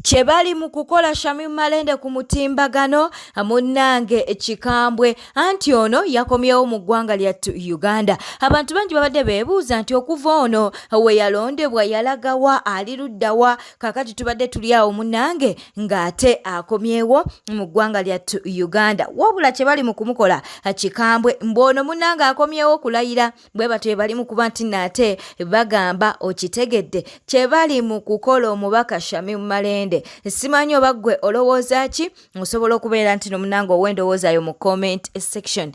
kye bali mu kukola Shamim Malende ku mutimbagano munnange kikambwe anti ono yakomyewo mu ggwanga lya Uganda abantu bangi babadde beebuuza nti okuva ono we yalondebwa yalagawa ali luddawa kakati tubadde tuli awo munnange ng'ate akomyewo mu ggwanga lya Uganda wabula kye bali mu kumukola kikambwe mbwono munnange akomyewo kulayira bwe batyo bye bali mu kuba nti naate bagamba okitegedde kye bali mu kukola omubaka shami mumalende simanyi oba ggwe olowooza ki osobola okubeera nti nomunanga ow'endowooza yo mu comment section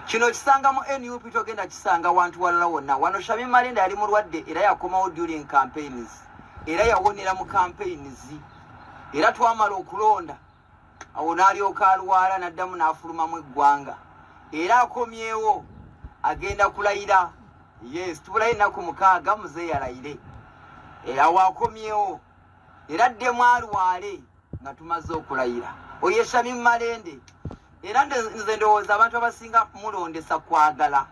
kino kisanga mu nup togenda kisanga wantu walala wonna wano shami malende yali mulwadde era yakomawo during campaigns era yawonera mu campaigns era twamala okulonda awo n'alyoka alwala n'addamu n'afulumamu eggwanga era akomyewo agenda kulayira yes tubulayo ennaku mukaaga muze yalayire eh, awo akomyewo era addemu alwale nga tumaze okulayira oyo eshami mumalende era nze ndowooza abantu abasinga mulondesa kwagala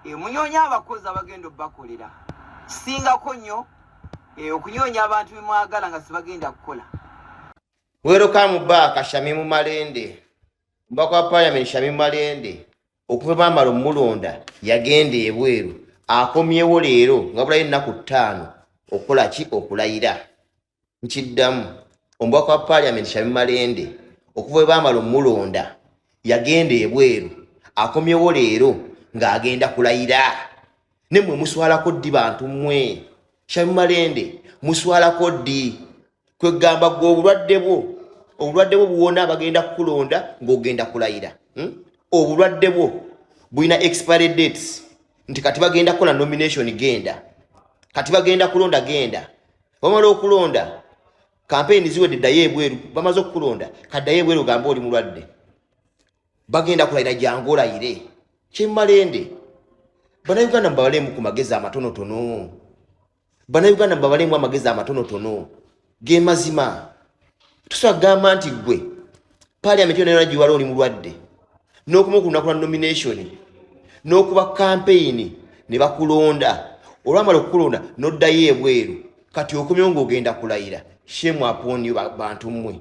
eh, munyonya abakozi abagenda obubakolera kisingako nnyo eh, okunyonya abantu bemwagala nga sibagenda kukola Welcome back Shamimu Malende. Mbako wa parliament Shamimu Malende okuva bamala omulonda yagenda ebweru akomyewo leero nga bulayo ennaku ttaano okukola ki okulayira nkiddamu omubaka wa parliament Shamimu Malende okuva bwe bamala omulonda yagenda ebweru akomyewo leero ng'agenda kulayira ne mwe muswalako ddi bantu mwe shamumalende muswalako ddi kwegamba gwe obulwadde bwo obulwadde bwo buwona bagenda kukulonda ng'ogenda kulayira hmm? obulwadde bwo bulina expiry dates nti kati bagenda kukola nomination genda kati bagenda kulonda genda bamala okulonda kampeyini ziwedde ddayo ebweru bamaze okukulonda kaddayo ebweru ogamba oli mulwadde bagenda kulayira jangu olayire kyemmalende banauganda mubabaleemu ku magezi amatonotono banauganda mubabaleemu amagezi amatonotono ge mazima tusobola kugamba nti ggwe paliamenti yona yona giwala oli mulwadde n'okumu ku lunaku lwa nomination n'okuba kampeyini ne bakulonda olwamala okukulonda n'oddayo ebweru kati okomyewo ng'ogenda kulayira shemu apooniyo bantu mmwe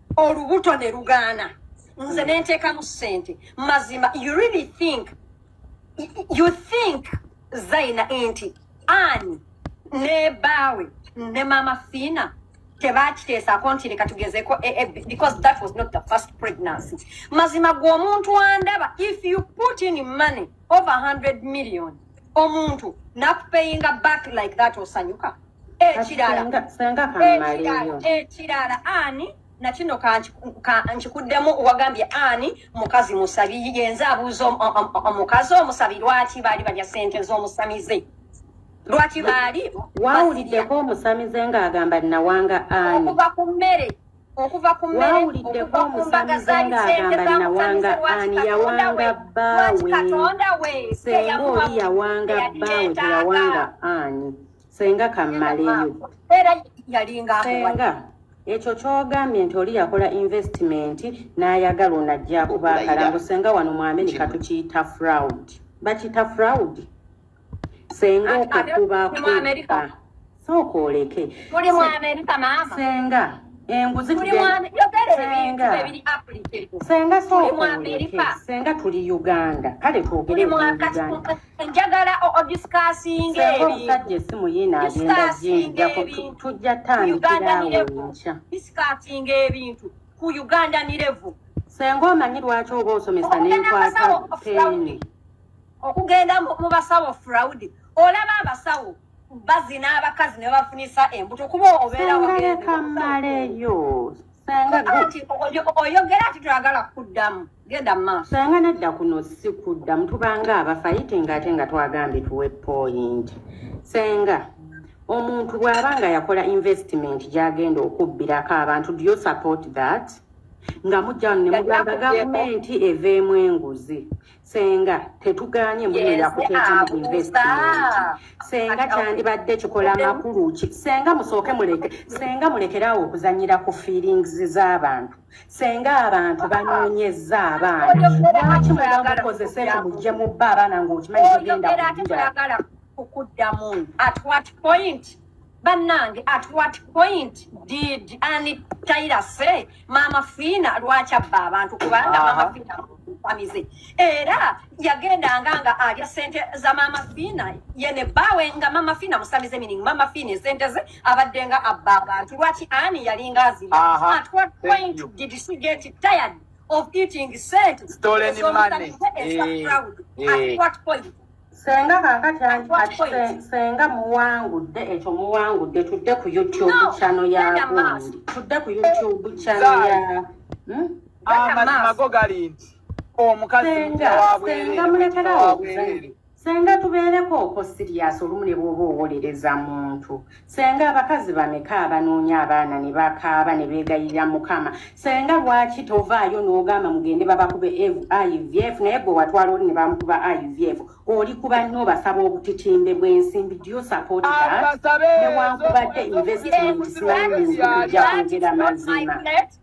olubuto ne lugaana nze nenteekamu ssente mazima you really think you think zaina nti ani ne baawe ne maama fiina tebakiteesako nti leka tugezeko eh, eh, because that was not the first pregnancy mazima gwe omuntu andaba if you put in money over 100 million omuntu nakupeyinga back like that osanyuka ekirala ekirala ani nakino nkikuddemu wagambye ani mukazi musabi yenze abuuza omukazi omusabi lwaki baali balya sente z'omusamize lwaki baali wawuliddeko omusamize ng'agamba nawanga ani okuva ku mmere okuva ku mmere okuva ku mbaga za licende za mutamize lwaki katonda we lwaki katonda we teyamuwa teyalireeta senga kammaleyo era yalinga senga ekyo kyogambye nti oli yakola investment n'ayagala ono ajja kuba akalango senga wano mu amerika tukiyita fraud bakiyita fraud senga okukuba kuba sooka oleke senga enguzi senga sooka oleke senga tuli uganda kale twogere njagala odisikasinga ebintusajja esimu yina agenda jinja tujja tandikirawo nkya disikasinga ebintu ku uganda nirevu senga omanyi lwaki oba osomesa nenkwata peni okugenda mu basawo fraud olaba abasawo bazina abakazi ne bafunisa embuto kuba obeera wagendekamaleyo oyogera ati twagala kuddamu genda maaso sanga nedda kuno si kuddamu tubanga abafayite ngaate nga twagambye tuwe point senga omuntu bw'aba nga yakola investment gy'agenda okubbirako abantu do you support that nga mujja ne mugamba gavumenti eveemu enguzi senga tetugaanye mbunyo yakuteekamu investment senga kyandibadde kikola makulu ki senga musooke muleke senga mulekeraawo okuzanyira ku feelings z'abantu senga abantu banoonyezza abaana lwaki mwera mukozesa ekyo mujje mubba abaana ng'okimanyi tugenda kukuddamu at what point bannange at what point did ani taira se maama fiina lwaki abba abantu kubanga maama fiina amize era yagendanga nga alya sente za maama fiina yene bawe nga maama fiina musamize meaning maama fiina esente ze abadde nga abba abantu lwaki ani yalinga azira at what point did she get tired of eating sente stolen money eh, eh. at what point senga kakati senga muwangudde ekyo muwangudde tudde ku youtube chano ya gundi tudde ku youtube chano ya hmm? amazima go gali nti omukazi senga mulekerawo senga tubeereko oko sirias olumu ne bwoba owolereza muntu senga abakazi bameka abanoonya abaana ne bakaaba ne beegayirira mukama senga lwaki tovaayo n'ogamba mugende babakube ivf naye gwe watwala oli ne bamukuba ivf oli kuba nnyo obasaba obutitimbe bw'ensimbi dio sapotinewankubadde investment simanyi nzija kwogera mazima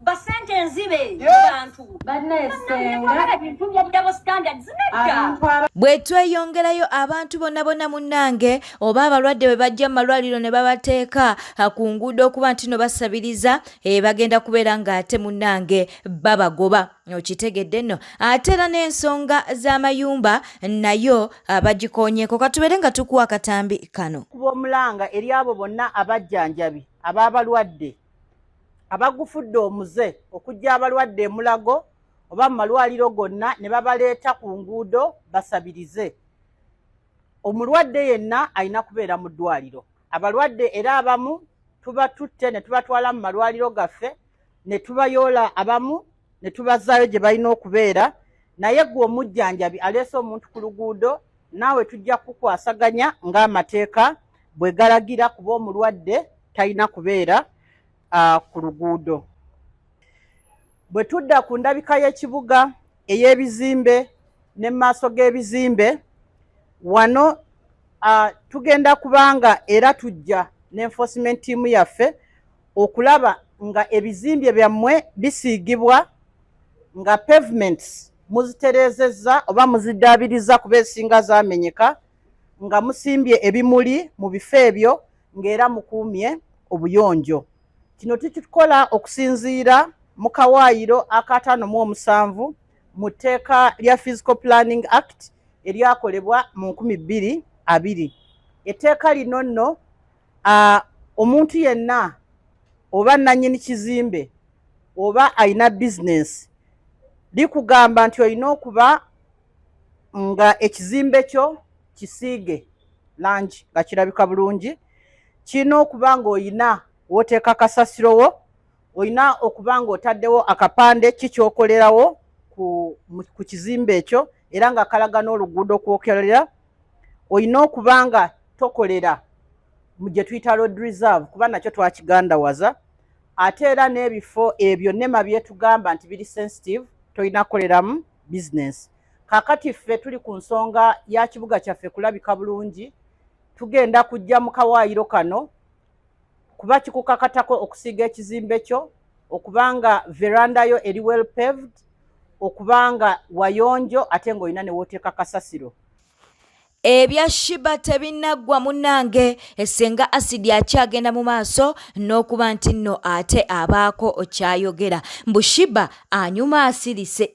basente enzibe bantu bwe tweyongerayo abantu bonna bonna munnange oba abalwadde bwe bajja mu malwaliro ne babateeka ku nguudo okuba nti no basabiriza e, bagenda kubeera ng'ate munnange babagoba okitegedde nno ate era n'ensonga z'amayumba nayo bagikoonyeeko katubeere nga tukuwa akatambi kano kuba omulanga eri abo bonna abajjanjabi ab'abalwadde abagufudde omuze okujja abalwadde emulago oba mu malwaliro gonna ne babaleeta ku nguudo basabirize omulwadde yenna alina kubeera mu ddwaliro abalwadde era abamu tubatutte ne tubatwala mu malwaliro gaffe ne tubayoola abamu ne tubazaayo gye balina okubeera naye gwe omujjanjabi aleese omuntu ku luguudo naawe tujja kukwasaganya ng'amateeka bwe galagira kuba omulwadde talina kubeera uh, ku luguudo bwe tudda ku ndabika y'ekibuga ey'ebizimbe ne mu maaso g'ebizimbe wano uh, tugenda kubanga era tujja ne enforcement tiimu yaffe okulaba nga ebizimbye byammwe bisiigibwa nga pavements muzitereezezza oba muziddaabiriza kuba esinga zamenyeka nga musimbye ebimuli mu bifo ebyo ng'era mukuumye obuyonjo kino tukikola okusinziira mu kawaayiro akataano mu omusanvu mu tteeka lya physical planning act eryakolebwa mu nkumi bbiri abiri etteeka lino nno Uh, omuntu yenna oba nanyini kizimbe oba alina bizinesi likugamba nti olina okuba nga ekizimbe kyo kisiige langi nga kirabika bulungi kirina okuba nga olina woteeka kasasiro wo olina okuba nga otaddewo akapande kikyokolerawo ku kizimbe ekyo era nga kalaga n'oluguudo kwokerera olina okuba nga tokolera mu gye tuyita road reserve kuba nakyo twakigandawaza ate era n'ebifo ebyo nema byetugamba nti biri sensitive tolina kukoleramu bizinesi kakati ffe tuli ku nsonga ya kibuga kyaffe kulabika bulungi tugenda kujja mu kawaayiro kano kuba kikukakatako okusiiga ekizimbe kyo okuba nga veranda yo eri well paved okuba nga wayonjo ate ng'olina ne wooteeka kasasiro ebya shiba tebinaggwa munange esenga asidi akyagenda mu maaso n'okuba nti nno ate abaako okyayogera mbu shiba anyuma asirise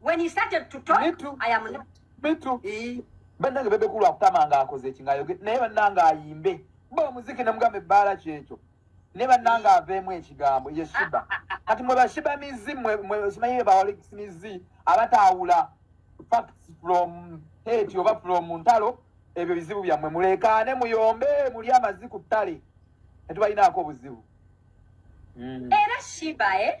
When he started to talk, Me too. I am not. Me too. Eh. Bannange bebe kulu akutama nga akoze eki nga yoge naye bannange ayimbe bo omuziki ne mugamba ebbaala kyekyo ne bannange aveemu ekigambo ye shiba kati mwe bashiba mizi mwe mwe simanyi be bawalekis mizi abataawula facts from hate oba from ntalo ebyo bizibu byammwe muleekaane muyombe muli amazzi ku ttale tetubalinaako obuzibu mm. era shiba eh?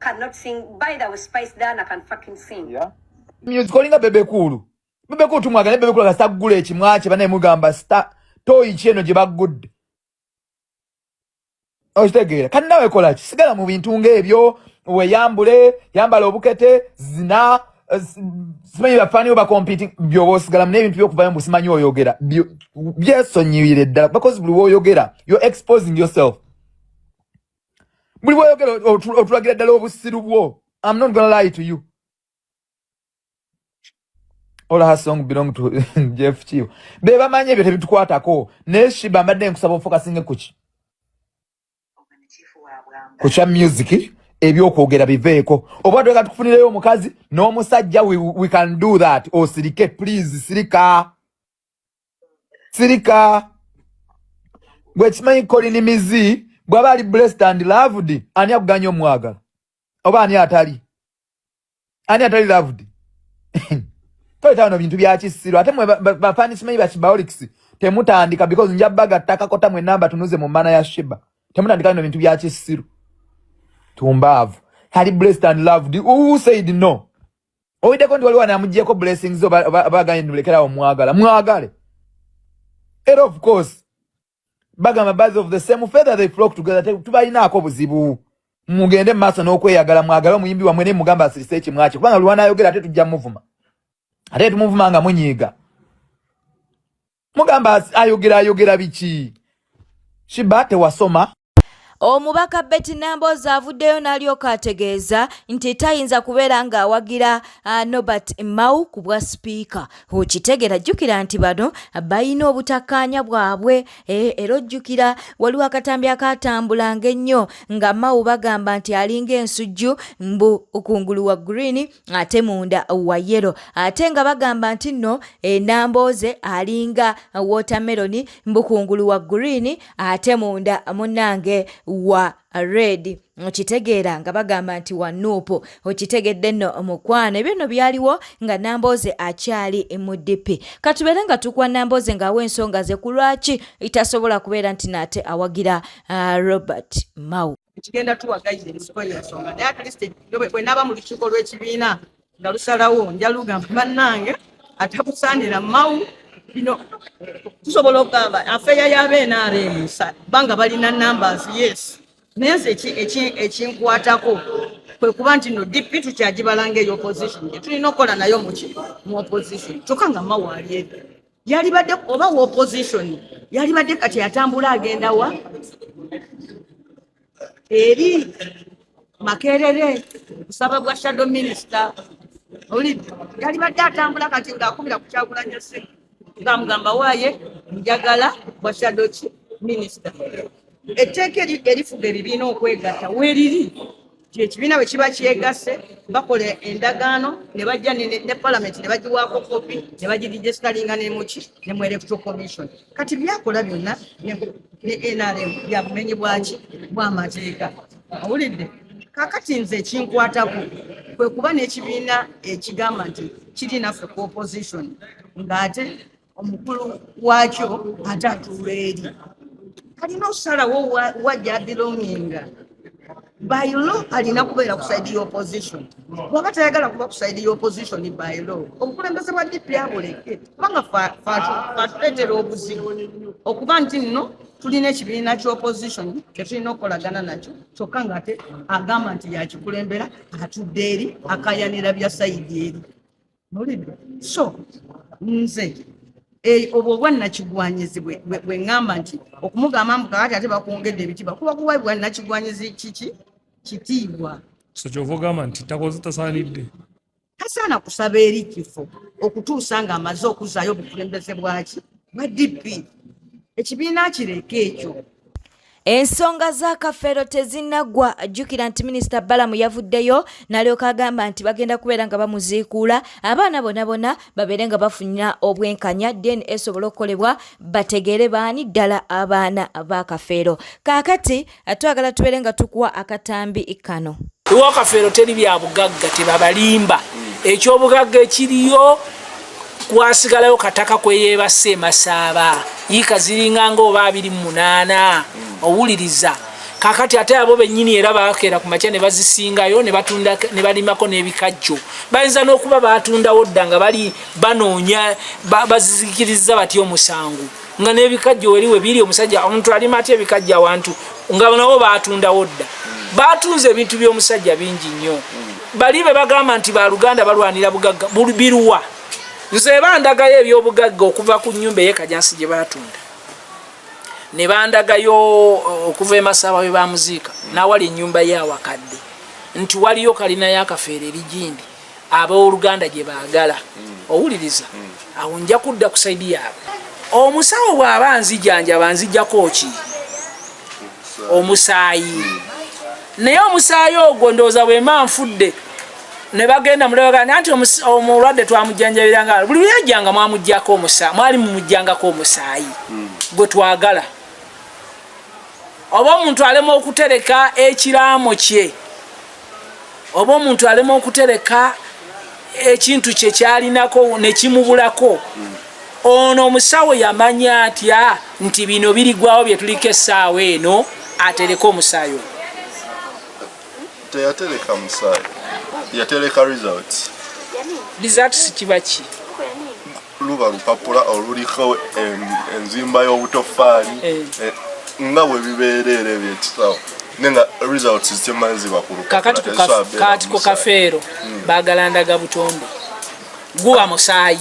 cannot sing by the way spice dana can fucking sing yeah music olinga bebe kulu bebe kulu tumwagale bebe kulu akasa gula ekimwache banaye mugamba star toyi kyeno gye baggudde okitegeera kati nawe kola ki sigala mu bintu ng'ebyo weyambule yambala obukete zina eh, simanyi bafaaniwo bakompiti byoba osigalamu n'ebintu byokuvayo mbu simanyi oyogera byesonyiwire ddala bakozi buli woyogera yo exposing yourself buli bwoyogera otulagira ddala obusiru bwo am not gonna lie to you all her song belong to jeff kiyo be bamanyi ebyo tebitukwatako naye shiba mbadde nkusaba ofokasinge kuki kukya music ebyokwogera biveeko oba tweka tukufunireyo omukazi n'omusajja we, we can do that osirike please sirika sirika gwe kimanyi kolini mizi bwaba ali blessed and loved ani akuganya omwagala oba ani atali ani atali loved toyita bino bintu byakisiro ate mwe bafani kimanyi bakibaolics temutandika because nja bagatakakota mwe namba tunuze mu mana ya shiba temutandika bino bintu byakisiro tumbaavu ali blessed and loved who said no Owideko ndi waliwa namujeko blessings zo baganye nulekera awo mwagala mwagale and of course bagamba birds of the same feather they flock together tubalinaako buzibu mugende maaso n'okweyagala mwagale omuyimbi wamwe ne mugamba asirise ekimwaki kubanga lwanayogera ate tujja muvuma ate tumuvuma nga munyiiga mugamba ayogera ayogera biki shiba tewasoma Omubaka Betty Namboozi avuddeyo n'alyoka ategeeza nti tayinza kubeera ng'awagira uh, Nobert Mao ku bwa sipiika. Okitegeera jjukira nti bano balina obutakkaanya bwabwe eh, era ojjukira waliwo akatambi akaatambulanga ennyo nga Mao bagamba nti alinga ensujju mbu kungulu wa green ate munda wa yero ate nga bagamba nti nno enambooze alinga wotameroni mbukungulu wa green ate munda munange wa red okitegeera nga bagamba nti wa nuupu okitegedde nno omukwano ebyo nno byaliwo nga nambooze akyali mu dipi katubeere nga tukwa nambooze ngaawo ensonga ze ku lwaki itasobola kubeera nti naate awagira uh, robert mau ekigenda tuwa gayida ensiko yensonga naye atleast bwe naaba mu lukiiko lw'ekibiina nga lusalawo nja lugamba bannange atakusaanira mawu bino tusobola okugamba afeeya y'abenrm banga balina numbers yes naye nze ekinkwatako kwe kuba nti no dp tukyagibalanga eyo opposition tulina okukola nayo muki mu opposition kyokka nga mawu ali ebyo yalibadde oba wa opposition yalibadde kati atambula agenda wa eri makerere kusaba bwa shadow minister oli yalibadde atambula kati ng'akumira ku kyagulanya simu ng'amugamba waaye njagala bwa shadow ki minister etteeka erifuga ebibiina okwegatta weriri kyekibiina bwe kiba kyegasse bakola endagaano ne bajja ne palamenti ne bagiwaako kopi ne bagidigestalinga nemuki ne mu electoral commission kati byakola byonna ne nrm byabumenyi bwaki bwamateeka owulidde kakati nze ekinkwatako kwe kuba n'ekibiina ekigamba nti kiri naffe ku opposition ng'ate omukulu wakyo ate atuula eri alina okusalawo wajja abilonginga by law alina kubeera ku side ya opposition bwaba tayagala kuba ku side ya opposition by law obukulembeze bwa dp abuleke kubanga fatuleetera obuzibu okuba nti nno tulina ekibiina kya opposition kyetulina okukolagana nakyo kyokka nga ate agamba nti yakikulembera atudde eri akayanira bya sayidi eri so nze eh, obwo obwannakigwanyizi bwe ŋŋamba nti okumugamba mbu kakati ate bakwongedde ebitiibwa kuba kuwa bwannakigwanyizi kiki kitiibwa so kyova ogamba nti takoze tasaanidde tasaana kusaba eri kifo okutuusa ng'amaze okuzaayo obukulembeze bwaki bwa dp ekibiina kireka ekyo Ensonga za Kafeero tezinnaggwa. Jjukira nti minisita Balamu yavuddeyo n'alyoka agamba nti bagenda kubeera nga bamuziikuula abaana bona bona babeere nga bafunira obwenkanya deni esobole okukolebwa bategeere baani ddala abaana ba Kafeero. Kaakati twagala tubeere nga tukuwa akatambi kano. Ewa Kafeero teri bya bugagga tebabalimba. Ekyobugagga ekiriyo kwasigalayo kataka kweyebasa emasaaba yiika ziringa nga oba abiri munaana owuliriza kakati ate abo benyini era bakeera ku makya ne bazisingayo ne balimako n'ebikajjo bayinza n'okuba batundawo dda nga bali banoonya bazizikiriza batya omusango nga n'ebikajjo weri we biri omusajja omuntu alima atya ebikajjo awantu nga nabo baatundawo dda baatunze ebintu by'omusajja bingi nnyo bali be bagamba nti baluganda balwanira bugagga biruwa nze bandagayo ebyobugagga okuva ku nyumba eyekajansi gye baatunda ne bandagayo uh, okuva emasaba we bamuziika n'awali ennyumba ye awakadde nti waliyo kalina yakafeero erigindi ab'oluganda gye baagala owuliriza awo nja kudda ku saidi yaabwe omusawo bw'aba nzijanjaba nzijako ki omusaayi naye omusaayi ogwo ndowooza bwema nfudde ne bagenda mulabaga nanti omulwadde twamujanjabira nga buli luyajjanga mwamujjako omusaayi mwali mumujjangako omusaayi hmm. gwe twagala oba omuntu alema okutereka ekiraamo kye oba omuntu alema okutereka ekintu kye kyalinako ne kimubulako ono omusawo yamanya atya nti bino birigwawo bye tuliko essaawa eno atereke omusaayi oyo teyatereka musaayi yatereka results results kiba ki luba lupapula oluliko enzimba y'obutoffaali eh. Eh, nga bwe bibeera era ebyekisawo nenga results zikyemala ziba ku lukakati kati ku kafeero hmm. baagala ndaga butonde guba musaayi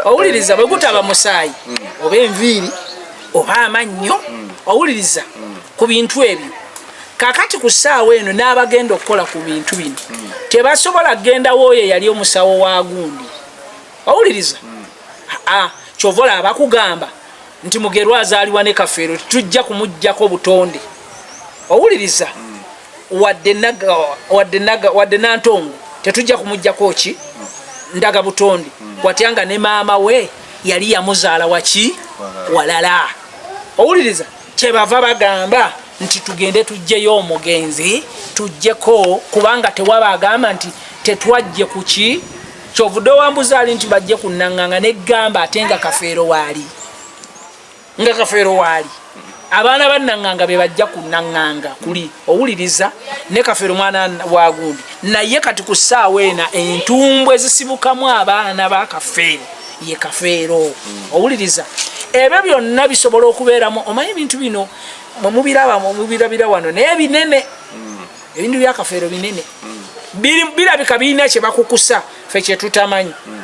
owuliriza bwe gutaba musaayi hmm. oba enviiri oba amannyo hmm. owuliriza ku bintu ebyo kakati ku ssaawa eno n'abagenda okukola ku bintu bino tebasobola kugenda wooyo eyali omusawo wa gundi owuliriza hmm. ah, kyova olaba bakugamba nti mugerwa azaaliwa ne kafeero tujja kumuggyako obutonde owuliriza hmm. wadde nantongo tetujja kumuggyako ki hmm. ndaga butonde watya nga ne maama we yali yamuzaala waki walala owuliriza kyebava bagamba nti tugende tujjeyo omugenzi tujjeko kubanga tewaba agamba nti tetwajje kuki kyovude owambuza ali nti bajje kunanganga negamba ate nga kafeero waali nga kafeero waali abaana bananganga bebajja kunanganga kuli owuliriza ne kafeero mwana wagundi naye kati ku ssaawa ena entumbwe zisibukamu abaana ba kafeero ye kafeero mm. owuliriza ebyo byonna bisobola okubeeramu omanyi ebintu bino mwemubiraba mwemubirabira wano naye binene mm. ebintu byakafeero binene mm. birabika birina kyebakukusa fe kyetutamanyi mm.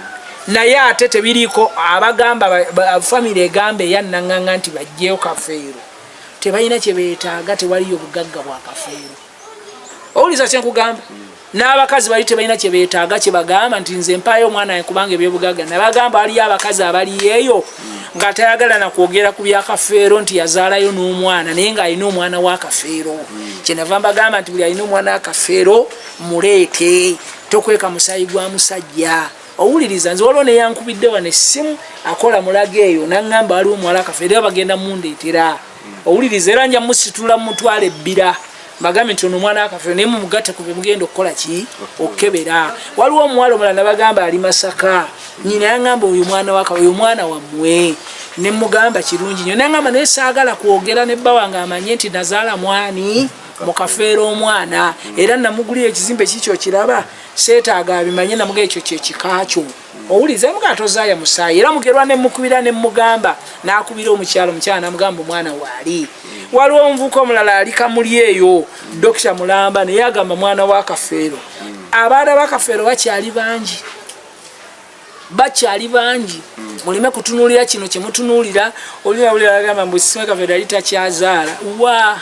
naye ate tebiriiko abagamba famiry egamba eyannanganga nti bajjeyo kafeero tebalina kyebetaaga tewaliyo bugagga bwa kafeero owuliza kyenkugamba mm. n'abakazi bali tebalina kye beetaaga kye bagamba nti nze mpaayo omwana wange kubanga ebyobugagga nabagamba waliyo abakazi abaliyeeyo nga tayagala na kwogera ku byakafeero nti yazaalayo n'omwana naye ng'alina omwana w'akafeero kyenava mbagamba nti buli alina omwana w'akafeero muleete tokweka musaayi gwa musajja owuliriza nze waliwo neyankubidde wano essimu akola mulaga eyo naŋŋamba waliwo omuwala akafeero era bagenda mundeetera owuliriza era nja musitula mutwala ebbira mbagambe nti ono omwana akafere naye mumugatte ku bimugenda okukola ki okukebera waliwo omuwala omulala nabagamba ali masaka nyina yangamba oyo mwana waka oyo mwana wammwe ne mugamba kirungi nyo nangamba naye saagala kwogera ne bba wange amanye nti nazaala mwani mukafeera omwana era namugulira ekizimbe kikyo kiraba seetaaga abimanye namuga ekyo kyekikakyo owuliza mugamba tozaaya musaayi era mugerwa nemukubira nemugamba nakubira omukyalo omukyala namugamba omwana waali waliwo omuvuka omulala ali kamuli eyo dokita mulamba naye agamba mwana wa kafeero abaana bakafeero bakyali bangi bakyali bangi muleme kutunulira kino kyemutunulira olinawuliragamba mbu sisime kafeero yali takyazaala wa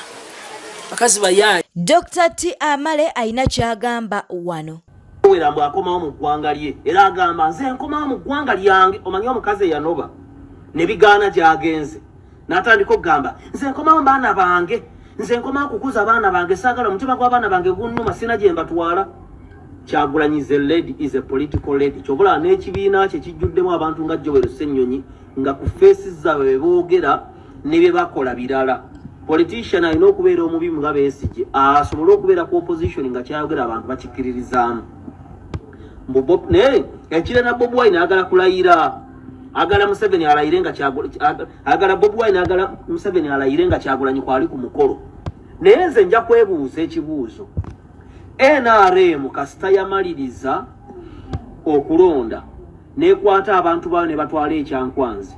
bakazi bayaali dr t amale alina kyagamba wano wera mbu akomawo mu ggwanga lye era agamba nze nkomawo mu ggwanga lyange omanyi omukazi eyanoba ne bigaana gyagenze n'atandika okugamba nze nkomawo baana bange nze nkomawo kukuza baana bange saagala omutima gw'abaana bange gunnuma sina gye mbatwala kyagulanyize lady is a political lady kyobulaba n'ekibiina kye kijjuddemu abantu nga jowero ssennyonyi nga ku feesi zaabwe be boogera ne bye bakola birala politician alina okubeera omubi nga besigye asobole okubeera ku opposition nga kyayogera abantu bakikkiririzaamu naye ekira na bobi wine agala kulayira agala museveni alayire nga agala bobi wine agala museveni alayire nga kyagulanyi kwali ku mukolo naye nze nja kwebuuza ekibuuzo nrm kasita yamaliriza okulonda nekwata abantu baayo nebatwala ekyankwanzi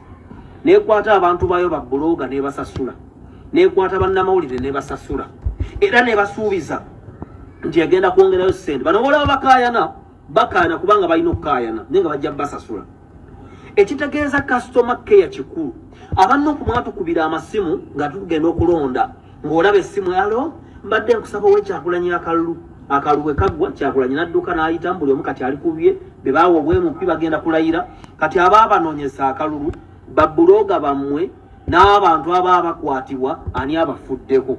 nekwata abantu baayo babuloga nebasasula nekwata bannamawulire nebasasula era nebasuubiza nti egenda kwongerayo sente bano bolaba bakayana bakaana kubanga balina okukaayana naye nga bajja basasula ekitegeeza kasitoma keya kikulu abanna okumwatukubira amasimu nga tugenda okulonda ng'olaba essimu yalo mbadde nkusaba owekyakulanya akalulu akalulu bwe kaggwa kyakulanya nadduka n'ayita mbuli omu kati ali kubye be baawa obwemupi bagenda kulayira kati aba abanoonyesa akalulu babbulooga bammwe n'abantu aba abakwatibwa ani abafuddeko